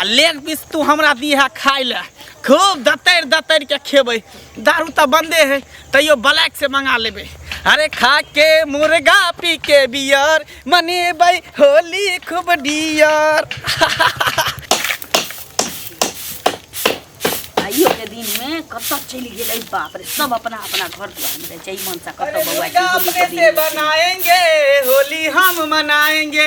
आ leg piece तू हमरा दीहे खाय ले खूब दतैर दतैर के खेबै दारू तऽ बंदे है तैयो ब्लैक से मंगा लेबै अरे खा के मुर्गा पी के बियर मनेबै होली खूब डियर आइयो के दिन में कतऽ चलि गेलै बाप रे सब अपना अपना घर दुआर में रहै छै ई मनसा कतऽ बौआ की होली के दिन में। बनाएंगे होली हम मनाएंगे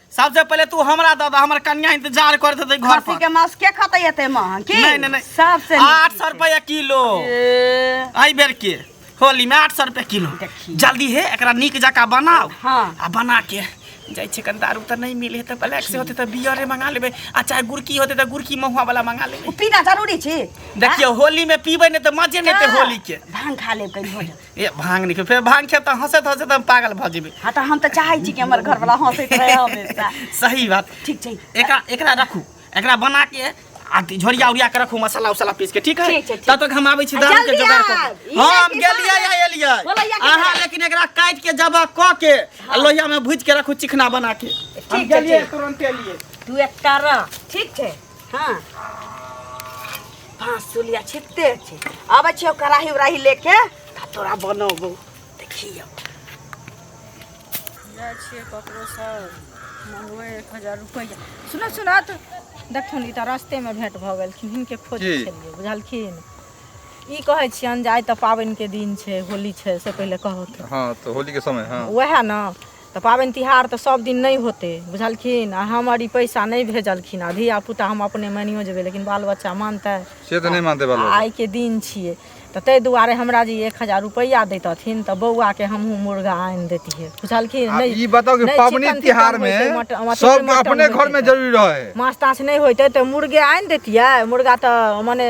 सबसे पहले तू हमरा दऽ दऽ हमर कन्या इंतजार करत हेतै घर खस्सी पर के मांस के खतै एते महंग की नहीं, नहीं, नहीं। सबसे आठ सौ रुपया किलो ए, आई बेर के होली में आठ सौ रुपया किलो देखी। जल्दी है एकरा नीक जका बनाओ हाँ। आ बना के जाइ छै कन दारू तऽ नहीं मिले तऽ ब्लैक से होते तऽ बियरे मंगा लेबै आ चाहे गुड़की होते तऽ गुड़की महुआ वाला मंगा लेबै उ पीना जरूरी छी देखियो होली में पीबै नहीं तऽ मजे नहीं ते होली के भांग खा लेब कहीं हो जाए ए भांग निकल फेर भांग खेब तऽ हंसैत हंसैत हम पागल भऽ जेबै हाँ तऽ हम तऽ चाहै छी कि हमर घरवला हँसैत रहै हमेशा सही बात ठीक छै एकरा एकरा रखू एकरा बना के आ झोरिया उरिया के रखू मसाला उसाला पीस के ठीक है ठीक छै, ठीक। तब तक हम आबै छी आ दारू के जल्दी जोगाड़ आब। कर ई हम लड़की गेलियै सब- या एलियै बोलैया के अहाँ जगह। लेकिन एकरा काट के जबा क के आ लोहिया में भूज के रखू चिकना बना के हम ठीक छै, गेलियै ठीक। तुरंत एलियै तू एक कर ठीक छै हाँ पाँच सौ लिया छिते छी अब छियो कड़ाही उड़ाही लेके ता तोरा बनोबो देखियो जाइ छियै ककरोसँ मङ्गबै एक हजार रुपैआ सुनऽ सुनऽ तऽ देखथुन ई तऽ रस्तेमे भेँट भऽ गेलखिन हिनके खोजै की? छलियै बुझलखिन ई कहै छियनि जे आइ तऽ पाबनिके दिन छै होली छै से पहिले कहत हाँ तो होली के समय हाँ वएह ने तऽ पाबनि तिहार तऽ सब दिन नहि होतै बुझलखिन आ हमर ई पैसा नहि भेजलखिन आ धिया पुता हम अपने मानियो जेबै लेकिन बाल बच्चा मानतै से तऽ नहि मानतै बाल बच्चा। आइ के दिन छियै तऽ ताहि दुआरे हमरा जे एक हजार रुपैआ दैतथिन तऽ बौआ के हमहूँ मुर्गा आनि देतियै बुझलखिन आ नहि ई बताउ कि नहि पाबनि चिकन तिहार तिकन मे होइतै, मट- अथी सब मटन अपने होइतै घर मे तऽ। जरूरी रहे है माछ ताछ नहि होइतै तऽ मुर्गे आनि देतियै मुर्गा तऽ मने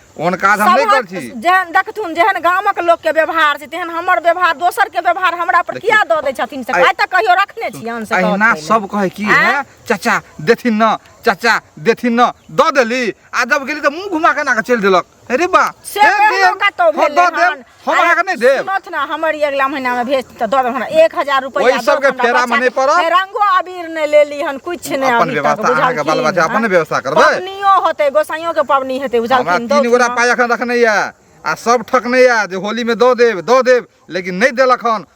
ओहन काज हम नहि कर छी जेहन देखथुन जेहन गामक लोकके व्यवहार छै तेहन हमर व्यवहार दोसरके व्यवहार हमरा पर किया दऽ दै छथिन से आइ तक कहियो रखने छी अन से अहिना सब कहै की है चाचा देथिन न चाचा देथिन न दऽ देली आ जब गेली तऽ मुंह घुमा के ना के चलि देलक अरे बा से कतौ भेलै हम अरे, अहाँके नहि देब सुनत ना हमर ई अगला महीना में भेज त दो हमरा 1000 रुपया ओहि दो सबके हमरा फेरा में बच्चा नहीं के। पड़ब। हे, रंगो अबीर ने ले ली हन कुछ ने अपन अभी तक व्यवस्था बुझल अहाँके बाल बच्चा अपने व्यवस्था करबै पबनियो होते गोसाइयो के पबनी हेते बुझल हमरा की तीन गोरा पाय एखन रखने यऽ आ सब ठकने यऽ जे होली में दऽ देब दऽ देब लेकिन नहि देलक हन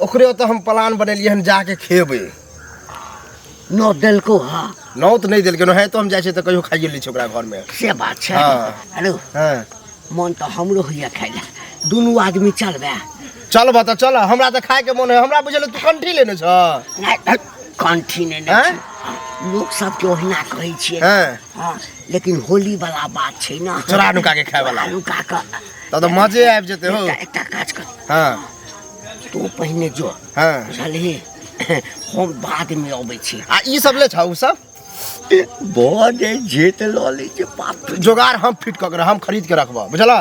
ओकरे ओतऽ हम प्लान बनेलियै हन जाके खेबै नौ देलको हाँ नौ तऽ नहि देलकै नौ तो हम जाइ छियै तऽ कहियो खाइए लै छियै ओकरा घरमे से बात छै हाँ। हेलो हाँ। मन तऽ हमरो होइए खाइ लए दुनू आदमी चलबै चलबऽ तऽ चल हमरा तऽ खायके मोन है हमरा बुझल तू कंठी लेने छ कंठी ने लोक सबके ओहिना कहै छियै हाँ। लेकिन होली वाला बात छै ना चोरा नुका के खाय वाला नुका के तब तऽ मजे आबि जेतै हो एकटा काज कर हाँ तू पहिने जो हाँ बुझलही हम बाद में अबै छी आ ई सब ले छौ उ सब बड़े जेत लऽ लै छै बाप रे जोगाड़ हम फिट कऽ के रख- हम खरीद के रखबा बुझला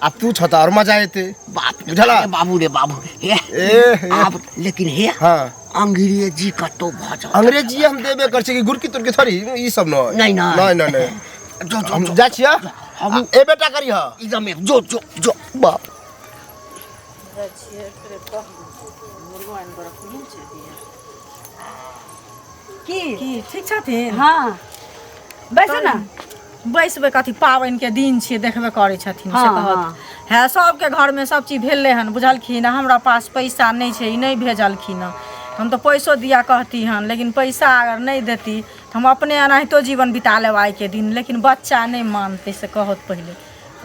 आ तू छता और मजा एते बाप रे बुझला? अरे बाबू रे बाबू हे ए, हे। आब लेकिन हे हाँ अंग्रेजी कतौ भऽ जाओ अंग्रेजी हम देबे कर छी कि गुरकी तुरकी थोड़ी ई सब न नहीं, नहीं। नहीं नहीं नहीं जो जो हम जो जा छिया हम- ए बेटा करी हा एकदम एक जो जो जो बाप की की ठीक छथिन हाँ बैसू ना बैसबै कथी पाबनिके दिन छियै देखबे करै छथिन से हाँ, कहत हाँ। है सबके घरमे सब चीज भेलै हन बुझलखिन आ हमरा पास पैसा नहि छै ई नहि भेजलखिन हँ हम तऽ पैसो दिया कहती हन लेकिन पैसा अगर नहि देती तऽ हम अपने एनाहितो जीवन बिता लेब आइके दिन लेकिन बच्चा नहि मानतै से कहत पहिले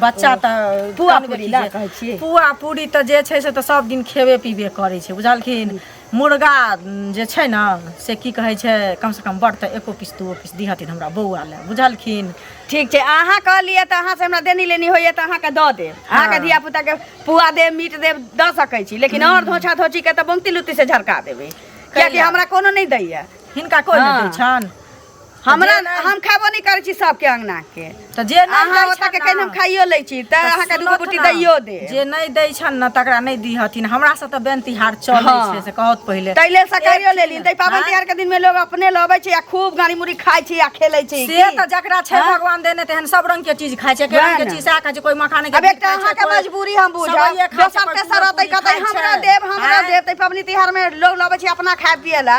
बच्चा तऽ पुआ कान पूरी गेली लए जे- कहै छियै। पुआ पूरी तऽ जे छै से तऽ सब दिन खेबे पीबे करै छै बुझलखिन मुर्गा उम, जे छै ने से की कहै छै कम से कम बड़ तऽ एको पीस दूओ पीस दिहथिन हमरा बौआ लए बुझलखिन ठीक छै अहाँ कहलियै तऽ अहाँ से हमरा देनी लेनी होइए तऽ अहाँके दऽ देब अहाँके धिया पुताके पुआ देब मीट देब दऽ सकै छी लेकिन आओर धोछा धोची के तऽ बंगती लुत्ती से झरका देबै कियाकि कैला? हमरा कोनो नहि दैए हिनका कोइ नहि दै हँ। छनि हमरा हम खाबो नहि करै छी सबके अंगना के तऽ जे नहि अहाँ दै ओतऽ के छनि कहिन हम ने, खाइयो लै छी तऽ अहाँ के दूगो सुनत रोटी ने, दैयो दे जे नहि दै छनि ने तकरा नहि दिहथिन हमरा सब तऽ बेन तिहार चलै हँ। छै से कहत पहिले ताहि लेल सकाइयो लेली ताहि पाबनि आँय? तिहार के दिन में लोग अपने लबै छै आ खूब गाड़ी मुड़ी खाइ छै आ खेलै छै से की? तऽ जकरा छै हाँ? भगवान देने तेहन सब रंग के चीज खाइ छै के वएह रंग के ने। चीज सएह खाइ छै कोई मखाने के अब दूध एकटा खाइ छै, अहाँके कोई मजबूरी हम बुझब सेवइये खाइ छै, दोसर कोई तेसर पूरी रहतै कहतै खाइ हमरा छै। देब हमरा आँय? देब ताहि पाबनि तिहार में लोग लबै छै अपना खाय पिए ला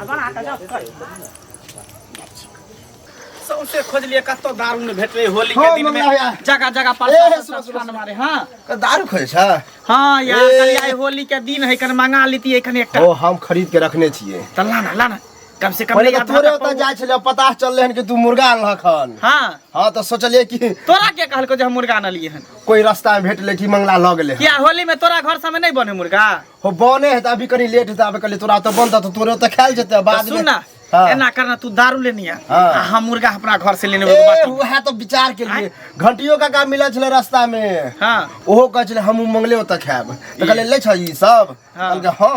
बना कऽ जाउ कर सौंसे खोजलिए कत्तो दारू ने भेटले होली के दिन में जगह जगह पर स्थान मारे हां क दारू खोजे छ हां यार कल आई होली के दिन है कन मंगा लेती है कन एकटा ओ हम खरीद के रखने छिए त लाना लाना कम से कम पहिले तोरे ओता जाय छले पता चलले हन कि तू मुर्गा आनल हन हां हां त सोचलिए कि तोरा के कहल को जे हम मुर्गा आनलिए हन कोई रास्ता में भेटले कि मंगला ल गेले क्या होली में तोरा घर सब में नहीं बने मुर्गा हो बने है त अभी कनी लेट है त अबे कनी तोरा त बन त तोरे त खाइल जेते बाद में सुन ना हाँ। एना करना तू दारू लेनी है हाँ। आ हम मुर्गा अपना घर से लेने ए उहे त विचार के लिए घंटियो का काम मिलल छले रास्ता में हाँ ओहो कहै छले हम मंगले ओतऽ खाएब तऽ कहलियै लै छऽ ई सब हाँ। कहलकै हँ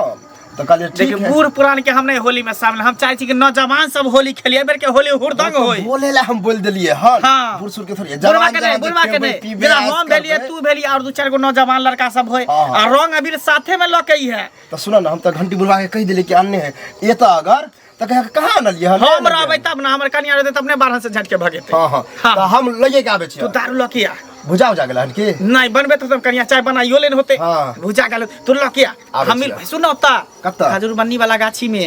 तऽ कहलियै ठीक देखिए है बूढ़ पुरान के हम नहीं होली में शामिल हम चाहे छी कि नौजवान सब होली खेलिए बेर के होली हुरदंग होई बोले ला हम बोल देलियै हँ हाँ। बूढ़ सूढ़ के थोड़ी बुढ़वा जवान के नहीं जवान जे बुढ़वा के खेबै, नहीं पीबै, जेना ऐश हम भेलिए करबै। तू भेली और दू चार गो नौजवान लड़का सब होय हाँ, हाँ। आ रंग अबीर साथे में लके ही है तो सुना ना हम तो घंटी बुलवा के कह दिले कि आने है ये तो अगर तो कहे कहाँ आनलिए हम हम रहबै तब ना हमर कनिया रहते तब ने बारह से झटके भगेते हाँ हाँ हाँ। तो हम लगे के आबे तू छियै दारू लके आ बुझा उझा गेल हन की नहीं बनबे तो तब कनिया चाय बनाइयो लेन होते हाँ। भुजा गेल तू लके आ आबै हम छियै। सुन ओता कतऽ? खजूर बन्नी वाला गाछी में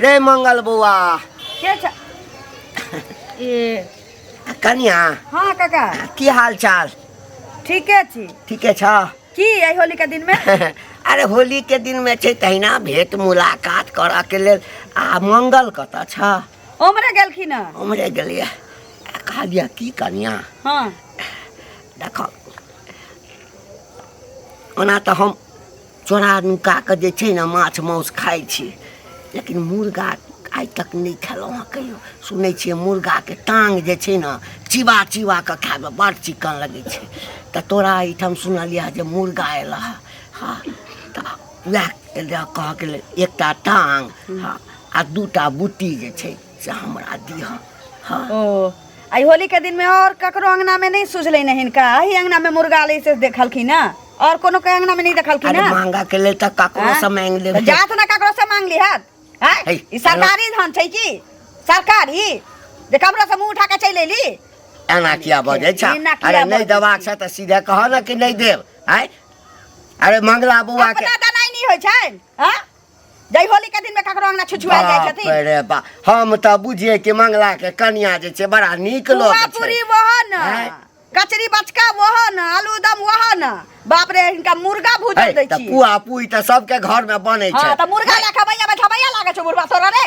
रे मंगल बौआ के छ ए कनिया हाँ काका की हाल चाल ठीके छी ठीके छ की एहि होली के दिन में अरे होली के दिन में छै तहिना भेंट मुलाकात करऽ के लेल आ मंगल कतऽ छ उमरे गेलखिन हँ उमरे गेलियै आ कहलियै की कनिया हाँ देखऽ ओना तऽ हम चोरा नुका कऽ जे छै ने माछ मासु खाइ छी लेकिन मुर्गा आइ तक नहि खेलहुँ हँ कहियो सुनै छियै मुर्गाके टाँग जे छै ने चिबा चिबा कऽ खायमे बड़ चिकन लगै छै तऽ तोरा एहिठाम सुनलियै हँ जे मुर्गा एलऽ हँ हँ तऽ वएह कहऽके लेल एकटा टाँग हँ आ दूटा बुट्टी जे छै से हमरा दिह हाँ ओ आई होली के दिन में और ककरो अंगना में नहीं सुझले नहीं इनका ही अंगना में मुर्गा ले से देखलखिन ना और कोनो के अंगना में नहीं देखलखिन अरे ना मांगा के लेल तऽ ककरो हाँ? से मांग तो लेब जात ना ककरो से मांग लिहत हैं? है, ई सरकारी धन छै की सरकारी जे कमरा से मुंह उठा के चलि एली एना किया बजै छ एना किया अरे नहि बजै देबाक छ तऽ सीधे कह ने कि नहि देब आय अरे मंगला बौआ के अपना दनाई नहीं होय छै हैं? जय होली के दिन में ककरो अंगना छुछुआ जाय बाप छथिन रे बा हम त बुझिए कि मंगला के कन्या जे छै बड़ा नीक लोग पुआ छै पूरी वह न हैं? कचरी बचका वह न आलू दम वह न बाप रे इनका मुर्गा है, भूजल दै त छी पुआ पुई त सबके घर में बने छै हां त मुर्गा ला खबैया बैठबैया लागे छौ बुढ़वा तोरा रे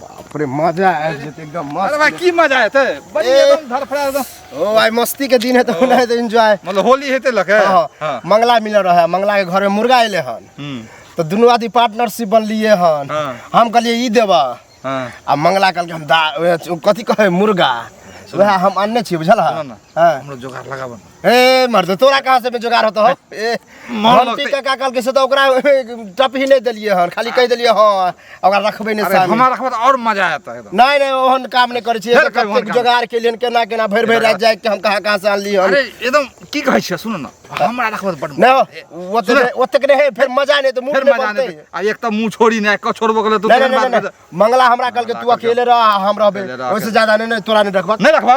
बाप रे मजा आ जेते एकदम मस्त अरे भाई की मजा आते बड़ी एकदम धरफड़ा एकदम ओ भाई मस्ती के दिन है तो होना है तो एंजॉय मतलब होली हेते लगे हां हाँ। मंगला मिल रहा है मंगला के घर में मुर्गा आइले हन हम्म। तो दोनों आदमी पार्टनरशिप बन लिए हन हाँ। हम कहलिए ई देबा हां आ मंगला कहल हम दा कथि कहे मुर्गा वह हम अन्य छी बुझल हां हमरो जोगार लगाबन ए मर्द तोरा कहाँ से बेजोगार होतो हो ए, हम हम लगते- टीका का कल के से तो ओकरा टप ही नहीं देलिए हन खाली कह देलिए हां ओकरा रखबे नहीं अरे सामने हमारा खबर और मजा आया था एकदम नहीं नहीं ओहन काम नहीं करे छिए फेर कब ओहन कतेक काम? जोगार के लिए केना केना भर भर रात जाए के हम कहाँ कहाँ से आनली हन अरे एकदम की कहै छियै सुन न हमरा रखबत बड न ओते सुन। ओते के नहीं फिर मजा नहीं तो मूड फेर नहीं मजा बनते नहि आ एक त मुंह छोड़ी नै क छोड़बो गेलै तू नहीं तेहन नहीं बात नहीं, कर- नहीं मंगला हमरा कल के तू मंगला कल के- अकेले रह हम रहबे अकेले रह, ओइसे अकेले। ज्यादा नहीं नहीं तोरा नहीं रखबा नै रखबा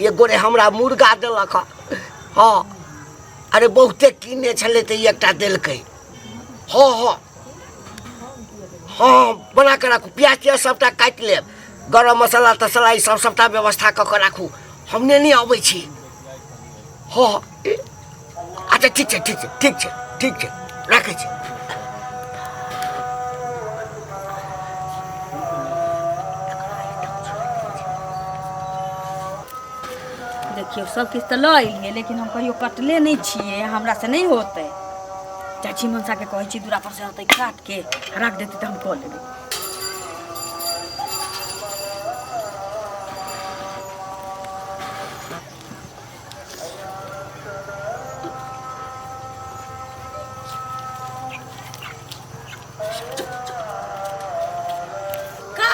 एक गोरे हमरा मुर्गा देलक हँ हँ अरे बहुते कीने छलै तऽ ई एकटा देलकै हँ हँ हँ बना कऽ राखू प्याज तियाज सभटा काटि लेब गरम मसाला तसाला ईसभ सभटा व्यवस्था कऽ कऽ राखू हम नेने अबै छी हँ हँ अच्छा ठीक छै ठीक छै ठीक छै ठीक छै राखै छी देखियौ सब किछु तऽ लऽ एलियै लेकिन हम कहियो कटले नहि छियै हमरा से नहि होतै चाची मनसा के कहै छी दूरा पर से होतै काट के राख देतै तऽ हम कऽ लेबै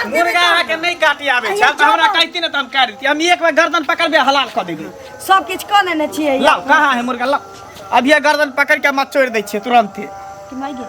मुर्गा अहाँके नहि काटि आबै छै तऽ हमरा कहती ने तऽ हम काटि दितियै हम एक बेर गर्दन पकड़बे हलाल कऽ देबै सब किछ कऽ लेने छियै लाउ कहाँ है मुर्गा लाउ अभिये गर्दन पकड़ के मत छोड़ि दै छियै तुरंते कि माय गे